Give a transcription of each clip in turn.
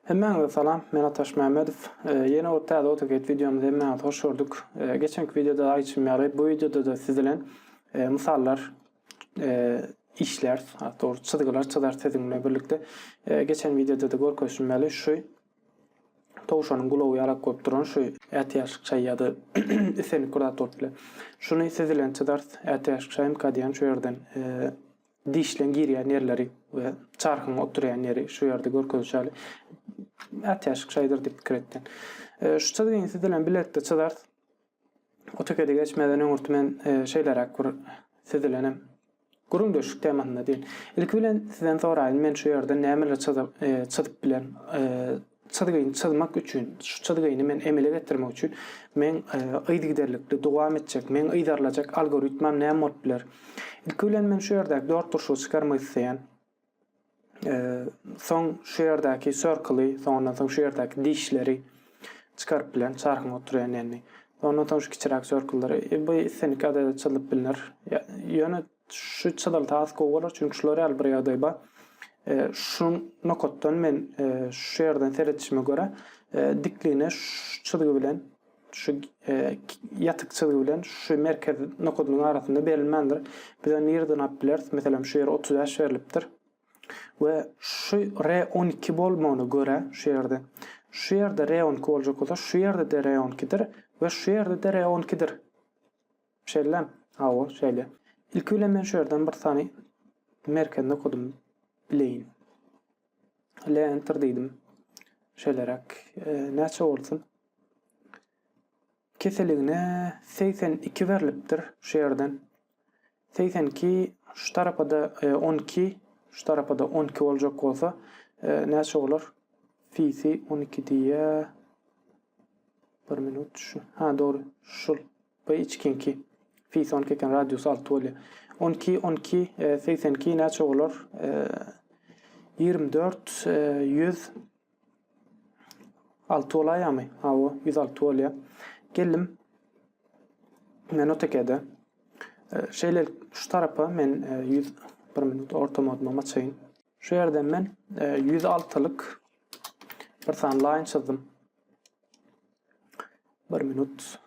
Hemmäňize salam, men Ataş Mämmedow. Ýene bir täze AutoCAD wideomyzy hemmäňizi hoş gördük. Geçenki wideoda aýtşym ýaly, bu wideoda-da siz bilen mysallar işläris, dogry çyzgylar çyzarys siziň bilen birlikde. Geçen wideoda-da görkezişim ýaly, şu Towşanyň gulagy ýalak bolup duran şu ätiýaçlyk çaý ýa-da islendik bir zat bolup biler. Şuny süzülen çydars ätiýaçlyk çaý mkdýan şu ýerden dişleň girýän ýerleri we çarhyň oturýan ýeri şu ýerde görkezilişi ýaly ätiýaçlyk çaýdyr diýip pikir etýän. Şu çyzgyň süzülen biletde çydars Otekedi geçmeden öňürti men şeýleräk bir süzülenem. Gürrüňdeşlik temasynda diýin. Ilki bilen sizden soraýyn, men şu ýerde nämeler çyzyp, çyzyp bilerin? Çyzgyny çyzmak üçin, şu çyzgyny men emele getirmek üçin meň yzygiderlikli dowam etjek, meň yzarlajak algoritmam näme bolup biler? Ilki bilen men şu ýerdäki dört durşugy çykarmak isleýän. Soň şu ýerdäki circle-y, soňundan soň şu ýerdäki dişleri çykaryp bilen çarhyň oturýan ýerini. Ondan soň şu kiçiräk circle-lary, e, bu islendik ýagdaýda çyzylyp bilner. Ýöne şu çyzylsa has gowy bolar, çünki şular ýaly bir ýagdaý bar. Şu nokatdan men şu ýerden seredişime görä, dikligine şu çyzgy bilen Şu ýatyk çyzgy bilen şu merkez nokadynyň arasynda berilmändir. Biz ony nireden alyp bileris? Meselem, şu ýere 35 berlipdir. We şu R12 bolmagyna görä, şu ýerde. Şu ýerde R12 boljak bolsa, şu ýerde-de R12-dir we şu ýerde-de R12-dir. Şeýlem? Hawa, şeýle. Ilki bilen men şu ýerden bir sany merkez nokadyny bileýin. L enter diýdim. Şeýleräk. Näçe bolsun? Keseligine segsen iki berlipdir şu ýerden. Segsen iki, şu tarapa-da on iki, şu tarapa-da on iki boljak bolsa, näçe bolar? Fisi on iki diýýär. Bir minut şu. Ha, dogry. Şul. Bu içkinki. Fisi on iki eken, radius alty bolýar. On iki, on iki, segsen iki näçe bolar? Ýigrimi dört, ýüz. Alty bolaýamy? Hawa, ýüz alty bolýar. Geldim. Men otekede. E, şeýlelik şu tarapa men e, ýüz bir minut orta moduma açaýyn. Şu ýerden men e, ýüz altylyk bir sany laýyn çyzdym. Bir minut.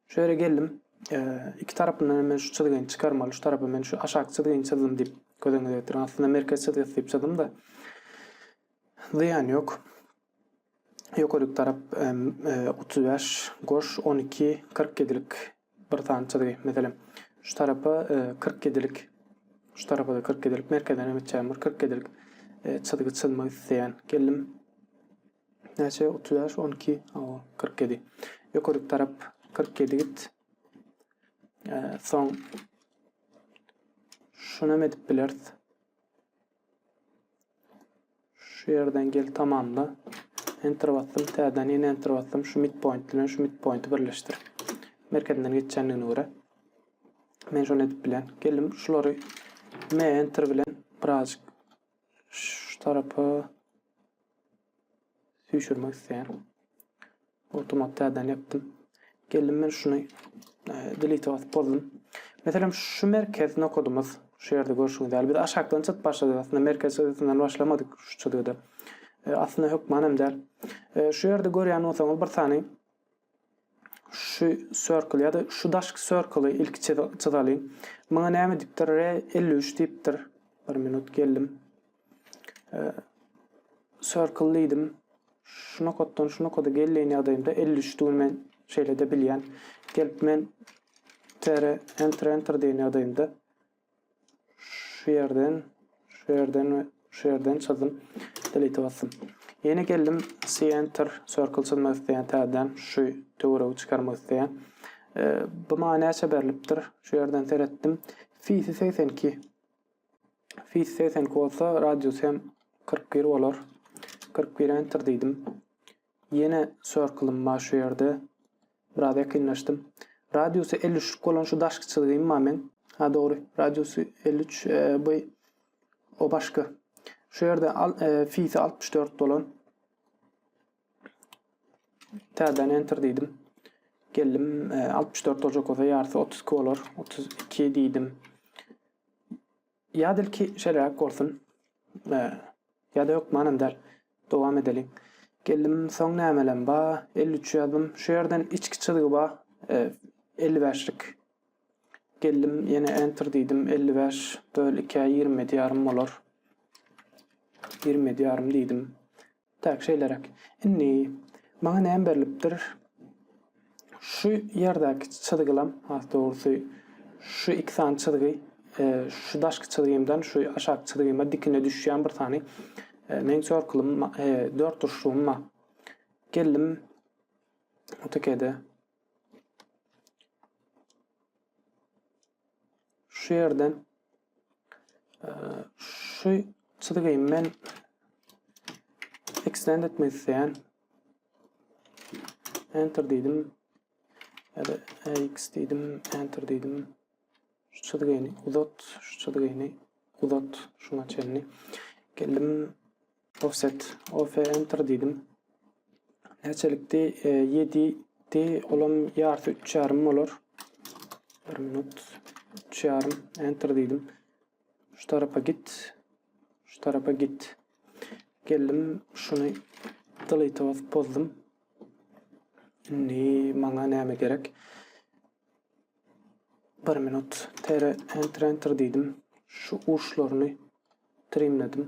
Şu ýere geldim. Iki tarapyndan hem men şu çyzgyny çykarmaly. Şu tarapa men şu aşaky çyzgyny çyzdym diýip göz öňüne getirdim. Aslynda merkez çyzgysy diýip çyzdym-da. Zyýan ýok. Ýokaryk tarap 35, goş 12, 47lik bir sany çyzgy. Meselem, şu tarapa 47lik Şu tarapa da 47 lik merkezden hem etjäm bir 47 lik e, çyzgy çyzmak isleýän. Geldim. Näçe? Otuz bäş, on iki, hawa, kyrk ýedi. Ýokaryk tarap kyrk ýedi git. Soň şunam edip bileris. Şu ýerden gel tamamla. Enter basdym, täzeden ýene enter basdym. Şu midpoint bilen şu midpointi birleşdir. Merkezinden geçýändigine görä. Men şuny edip bilen. Geldim, şulary M enter bilen birazjyk Şu tarapa süýşürmek isleýän. Awtomat täzeden ýapdym. Geldim men şuny delete basyp bozdum. Meselem şu merkez nokadymyz şu ýerde görşüňiz ýaly biz aşakdan çyt başladyk. Aslynda merkez çyzgysynyň başlamadyk şu çyzgyda. E, aslynda hökman hem däl. E, şu ýerde görýän bolsaňyz bir sany Şu circle ýa-da şu daşky circle-y ilki çyzalyň. Muňa näme diýipdir? Re elli üç diýipdir. Bir minut geldim. Circle diýdim. Şu nokatdan şu nokada gelýän ýagdaýymda elli üçdügini men şeýle-de bilýän. Gelip men tere enter enter diýen ýagdaýymda Şu ýerden, şu ýerden we şu ýerden çyzdym. Delete basdym. Ýene geldim center circle çyzmak isleýän täzeden şu töweregi çykarmak isleýän. E, bu maňa näçe berlipdir? Şu ýerden seretdim. Fisi 82. Fisi 82 bolsa radius hem 41 bolar. 41 enter diýdim. Ýene circle-ym bar şu ýerde. Biraz ýakynlaşdym. Radiusy elli üçlük bolan şu daşky çyzgym bar meň. Ha dogry, radiusy elli üç, bu o başky. Şu ýerde fisi altmyş dört bolan. Täzeden enter diýdim. Geldim, altmyş dört boljak bolsa ýarysy otuz iki bolar. Otuz iki diýdim. Ýa dilki şeräk bolsun. Ýa-da hökmanam däl. Dowam edeliň. Geldim, soň nämelem ba, elli üç ýazdym. Şu ýerden içki çyzgy ba, elli bäşlik. Geldim, ýene enter diýdim, elli bäş böl ikä ýigrimi ýedi ýarym bolar. Ýigrimi ýedi ýarym diýdim. Täk şeýleräk. Indi maňa näme berlipdir? Şu ýerdäki çyzgylam, has dogrusy, şu iki sany çyzgy, şu daşky çyzgymdan şu aşaky çyzgyma dikine düşýän bir sany meň çorkylym, dörtburçlygym bar. Geldim, otekede. Şu ýerden şu çyzygy men extend etmek isleýän. Enter diýdim. Ya da x diýdim, enter diýdim. Şu çyzygyny uzat, şu çyzygyny uzat, şuňa çenli. Geldim Offset OF Enter diýdim. Näçelikdi? Ýedi di. Olam ýarysy üç ýarym bolar. Bir minut. Üç ýarym. Enter diýdim. Şu tarapa git. Şu tarapa git. Geldim. Şuny delete basyp bozdum. Indi maňa näme gerek? Bir minut. Tere enter enter diýdim. Şu uçlaryny trimledim.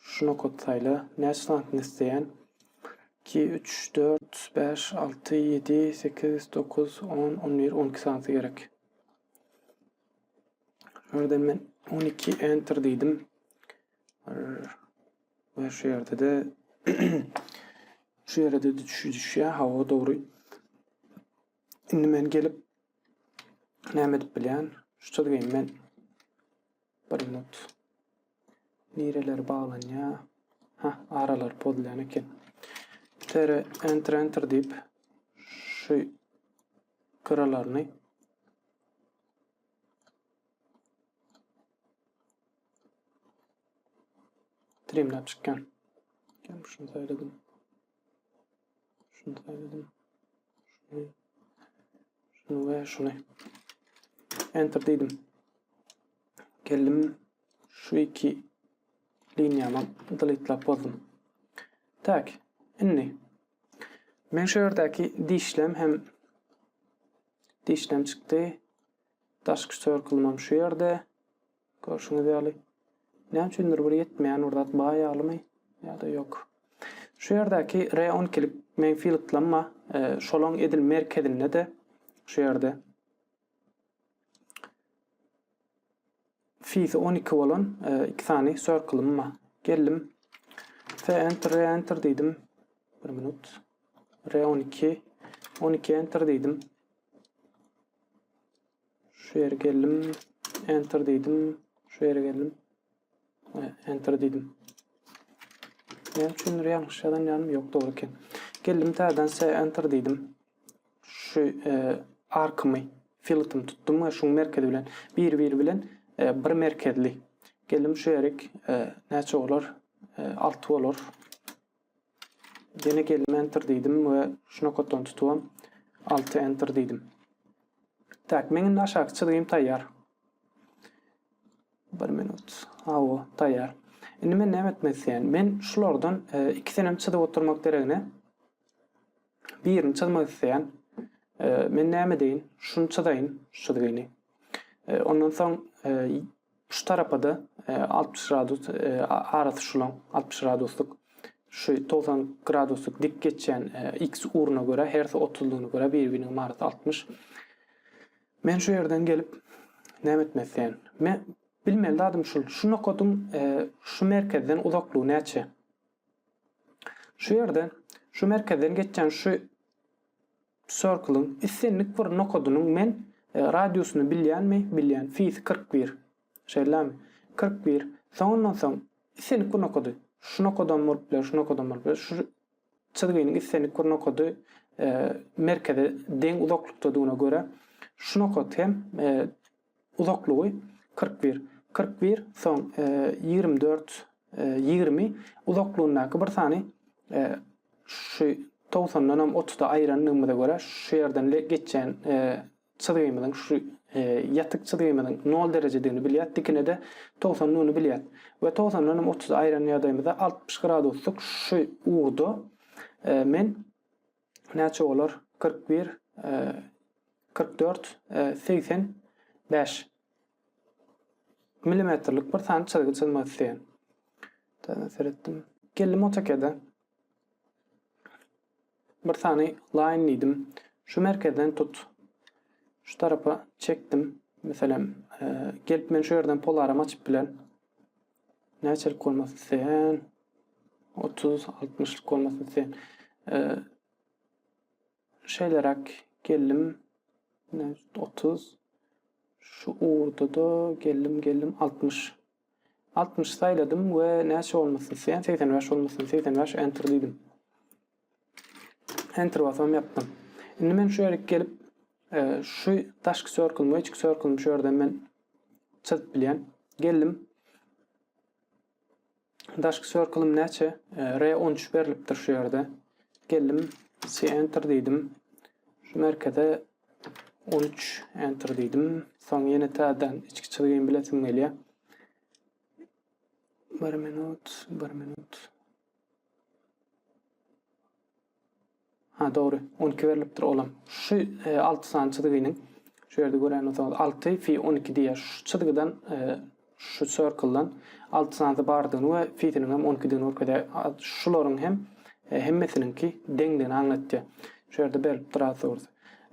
Şu nokat saýla. Näçe santyny isleýän? Iki, üç, dört, bäş, alty, ýedi, sekiz, dokuz, on, on bir, on iki santy gerek. Şuradan men on iki enter diýdim. Ve şu ýerde de şu ýere de düşýär. Hawa, dogry. Indi men gelip näme edip bilýän? Şu çyzgyny men Bir minut. Nireleri baglanyar. Ha, aralar pozulýan eken. Tere enter enter diýip şu gyralaryny trimlap çykýan. Şunu saýladyň. Şunu şunu. Enter dedim. Geldim şu iki linýama deletelap bozdum. Tak, indi men şu ýerdäki dişlem hem dişlem çykdy. Daşky circle şu ýerde. Görşüňiz ýaly, näme üçindir bir ýetmeýän bir zat bar ýalymy ýa-da ýok. Şu ýerdäki re on iki lik menfi ýylytlanma şolaň edil merkezinde-de, şu ýerde fisi on iki bolan iki sany circle-ym bar. Geldim. F enter, re enter diýdim. Bir minut. Re on iki, on iki enter diýdim. Şu ýere geldim. Enter diýdim. Şu ýere geldim. Enter diýdim. Näme üçindir ýalňyş ýazan ýanym ýok dogry eken. Geldim täzeden se enter diýdim. Şu e, arkymy, filtimi tutdum we şuň merkezi bilen bir-biri bilen e, bir merkezli. Geldim şu ýerik e, näçe bolar? E, 6 bolar. Ýene geldim enter diýdim we şu nokatdan tutubam alty enter diýdim. Tak, meň indi aşaky çyzgym taýýar. Bir minut. Hawa, taýýar. Indi men näme etmek isleýän? Men şulardan e, ikisenem çyzyp oturmak deregine birini çyzmak isleýän. E, men näme deýin? Şuny çyzaýyn, şu çyzgyny. E, ondan soň Şu tarapada altmyş gradus arasy şulaň altmyş graduslyk şu togsan graduslyk dik geçýän X ugruna görä hersi otuzlygyna görä bir biriniň marasy altmyş. Men şu ýerden gelip näme etmek isleýän? Me bilmeli zadym şul şu nokadyň şu merkezden uzaklygy näçe? Şu ýerde şu merkezden geçýän şu Circle-yň islendik bir nokadynyň men radiusyny bilýänmi? Bilýän. Fis kyrk bir. Şeýlemi? Kyrk bir. Soňundan soň islendik bir nokady. Şu nokadam bolup biler, şu nokadam bolup biler. Şu çyzgynyň islendik bir nokady merkeze deň uzaklykdadygyna görä, şu nokat hem Uzaklygy kyrk bir, kyrk bir, soň ýigrimi dört, ýigrimi uzaklygyndaky bir sany şu togsandan hem otuzda aýyrandygymyza görä şu ýerden geçýän çyzgymyzyň şu ýatyk çyzgymyzyň nol derejedigini bilýäs, dikine-de togsandygyny bilýäs we togsandan hem otuzy aýyran ýagdaýymyzda altmyş graduslyk şu ugurda men Näçe bolar? Kyrk bir, kyrk dört, segsen bäş. Milimetrlik bir sany çyzgy çyzmak isleýän. Täze seretdim. Geldim AutoCAD-e. Bir sany line diýdim. Şu merkezden tut. Şu tarapa çekdim. Meselem, gelip men şu ýerden polarym açyp bilen. Näçelik bolmak isleýän? Otuz, altmyşlyk bolmak isleýän. Şeýleräk geldim. Otuz. Şu ugurda-da geldim, geldim. Altmyş. Altmyş saýladym we näçe bolmak isleýän? Segsen bäş bolmak isleýän. Segsen bäş, enter diýdim. Enter basam ýapdym. Indi men şu ýerik gelip e, şu daşky circle we içki circle şu ýerden men çyzyp bilýän. Geldim. Daşky circle näçe? E, R13 berlipdir şu ýerde. Geldim. C enter diýdim. Şu merkeze 13 enter diýdim. Soň ýene täzeden içki çyzgyny bilesim gelýär. 1 minut, 1 minut. Ha dogry. On iki berlipdir olam. Şu e, alty sany çyzgynyň şu ýerde gören bolsaňyz alty fi on iki diýýär. Şu çyzgydan e, şu circle-dan alty sanysy bardygyny we fisiniň hem on ikidigini görkezýär. Şularyň hem e, hemmesiniňki deňdigini aňlatýar. Şu ýerde berlipdir azury.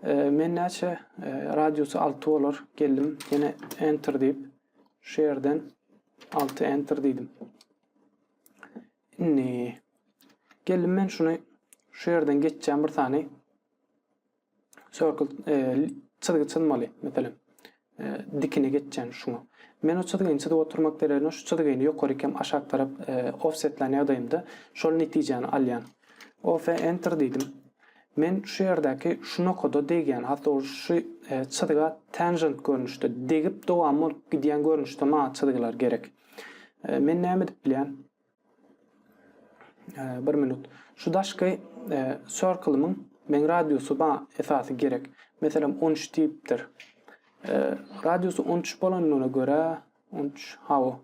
E, men näçe e, radiusy alty bolar geldim. Ýene enter diýip şu ýerden alty enter diýdim. Indi geldim men şuny şu ýerden geçýän bir sany circle e, çyzgy çyzmaly meselem. E, dikine geçýän şuňa. Men o çyzgyny çyzyp oturmak deregine şu çyzgyny ýokary hem aşak tarap e, offsetlän ýagdaýymda şol netijäni alýan. OF enter diýdim. Men şu ýerdäki şu nokada degýän, hatda ol şu e, çyzga tangent görnüşde degip dowam bolup gidýän görnüşde maňa çyzgylar gerek. E, men näme edip bilýän? E, bir minut. Şu daşky e, circle-myň men radiusy ba esasy gerek. Meselem 13 diýipdir. E, radiusy 13 bolandygyna görä 13 hawa.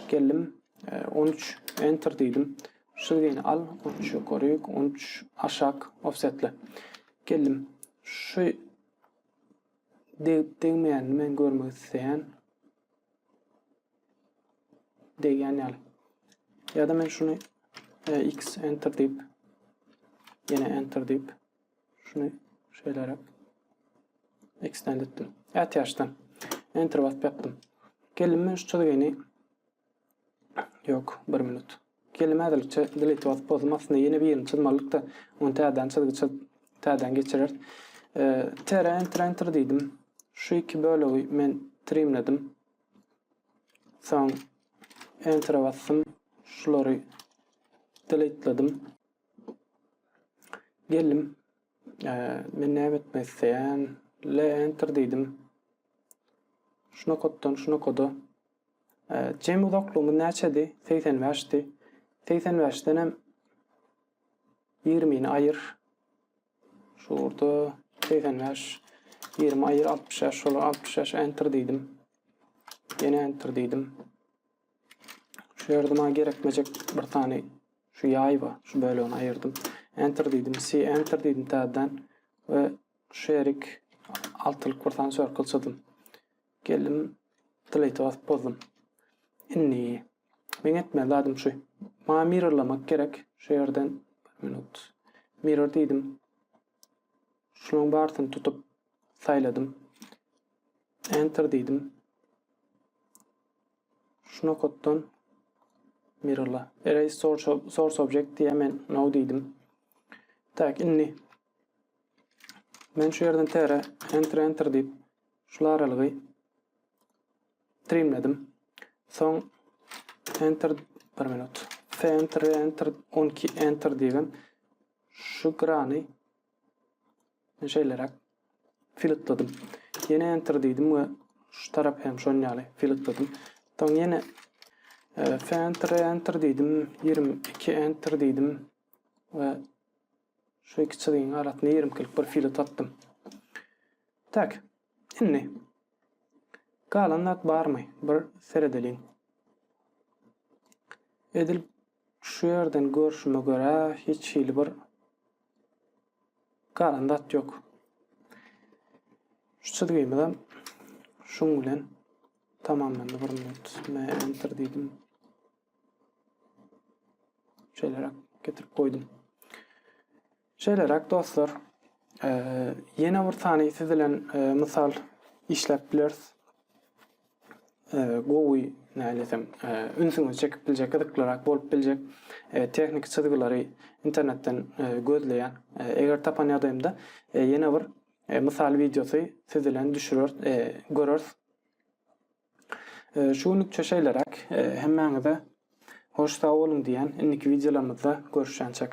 Geldim. E, 13 enter diýdim. Şu gene al 13 ýokary, 13 aşak offsetle. Geldim. Şu degip degmeýänini men görmek isleýän. Degen ýaly. Ya da men şunu e, x enter deyip yine enter deyip şunu şeýleräk extend etdim. Ätiýaçdan enter basyp ýapdym. Geldim men şu çyzgyny Yok, bir minut. Gelnim häzirlikçe delete basyp bozdum aslynda ýene birini çyzmalydykda ony täzeden çyzgy çyzyp täzeden geçireris. Tere enter enter diýdim. Şu iki bölegi men trimledim. Soň enter'e basdym. Şulary delete'ledim. Geldim. Men näme etmek isleýän? Le enter diýdim. Şu nokatdan şu nokada Jemi uzaklygymyz näçedi? Segsen bäşdi. Segsen bäşdenem ýigrimini aýyr. Şurada segsen bäş, ýigrimi aýyr altmyş bäş, şolar altmyş bäş enter diýdim. Ýene enter diýdim. Şu ýerde maňa gerekmejek bir sany şu ýaý bar. Şu bölegini aýyrdym. Enter diýdim. C enter diýdim täzeden we şu ýerik altylyk bir sany circle çyzdym. Geldim delete'e basyp bozdum. Indi meň etmeli zadym şu. Maňa mirrorlamak gerek. Şu ýerden bir minut. Mirror diýdim. Şulaň barysyny tutup saýladym. Enter diýdim. Şu nokatdan mirrorla. Erase source, source object diýä men no diýdim. Tak indi Men şu ýerden tere enter enter diýip şul aralygy trimledim. Soň enter bir minut. F enter enter 12 enter diýgem şu grany şeýleräk filtledim. Ýene enter diýdim we şu tarap hem şon ýaly filtledim. Soň ýene e, F enter enter diýdim, 22 enter diýdim we Şu iki çyzygyň arasynda ýermkilik bir filo tapdym. Tak, indi galan zat barmy? Bir seredeliň. Edil şu ýerden görşüme görä, hiç hili bir galan zat ýok. Şu çyzgymyzam şuň bilen tamamlandy. Bir minut. Men enter diýdim. Şeýleräk getirip goýdum. Şeýleräk dostlar, ýene bir sany siz bilen mysal işläp bileris. Gowy, nädesem, ünsüňizi çekip biljek, gyzyklyrak bolup biljek tehniki çyzgylary internetden gözleýän. Eger tapan ýagdaýymda ýene bir mysal wideosy siz bilen düşüreris, göreris. Şu günlükçe şeýleräk. Hemmäňize hoş sag boluň diýýän. Indiki wideolarymyzda görüşýänçäk.